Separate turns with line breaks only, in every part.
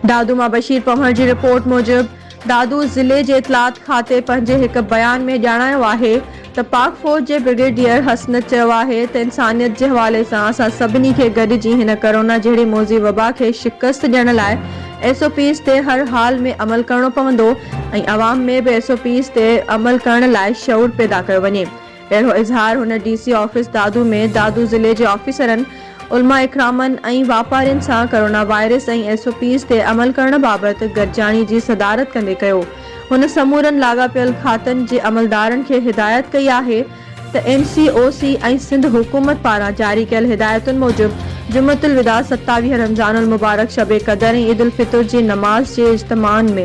دادو مان بشير پنهور جي رپورٽ موجب دادو ضلعي جي اطلاعات کاتي پنهنجي هڪ بيان ۾ ڄاڻايو آهي ته پاڪ فوج جي برگيڊيئر حسنت چيو آهي ته انسانيت جي حوالي سان اسان سڀني کي گڏجي هن ڪرونا جهڙي موذي وبا کي شڪست ڏيڻ لاء ايس او پيز تي هر حال ۾ عمل ڪرڻو پوندو ۽ عوام ۾ به ايس او پيز تي عمل ڪرڻ لاء شعور پيدا ڪيو وڃي اهڙو اظهار هن D C office Dadu ۾ Dadu ضلعي جي آفيسرن، علماء اڪرامن ۽ واپارين سان corona virus ۽ S O Ps تي عمل ڪرڻ بابت گڏجاڻي جي صدارت ڪندي ڪيو. هن سمورن لاڳاپيل کاتن جي عملدارن کي هدايت ڪئي آهي ته اين سي او سي ۽ سنڌ حڪومت پاران جاري ڪيل هدايتن موجب جمعة الوداع ستاويهه رمضان المبارڪ شب قدر ۽ عيد الفطر جي نماز جي اجتماعن ۾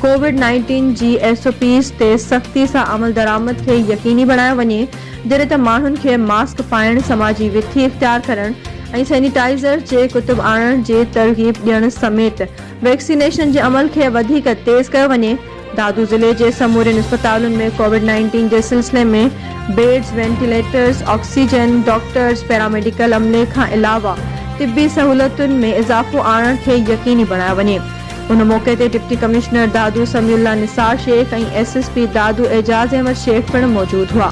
ڪووڊ نائنٽين جي ايس او پيز تي سختي سان عملدرآمد کي يقيني بڻايو وڃي، جڏهن ته ماڻهن کي ماسڪ پائڻ، سماجي وٿي اختيار ڪرڻ ۽ سينيٽائيزر جي ڪتب آڻڻ جي ترغيب ڏيڻ سميت ويڪسينيشن جي عمل کي وڌيڪ تيز ڪيو وڃي. دادو ضلعي جي سمورين اسپتالن ۾ ڪووڊ نائنٽين جي سلسلي ۾ beds, ventilators, oxygen, doctors, paramedical عملي کان علاوه طبي سهولتن ۾ اضافو آڻڻ کي يقيني بڻايو وڃي. ان موقعي تي deputy commissioner Dadu Samiullah Nisar Shaikh ۽ S S P Dadu Ejaz Ahmed Shaikh پڻ موجود هئا.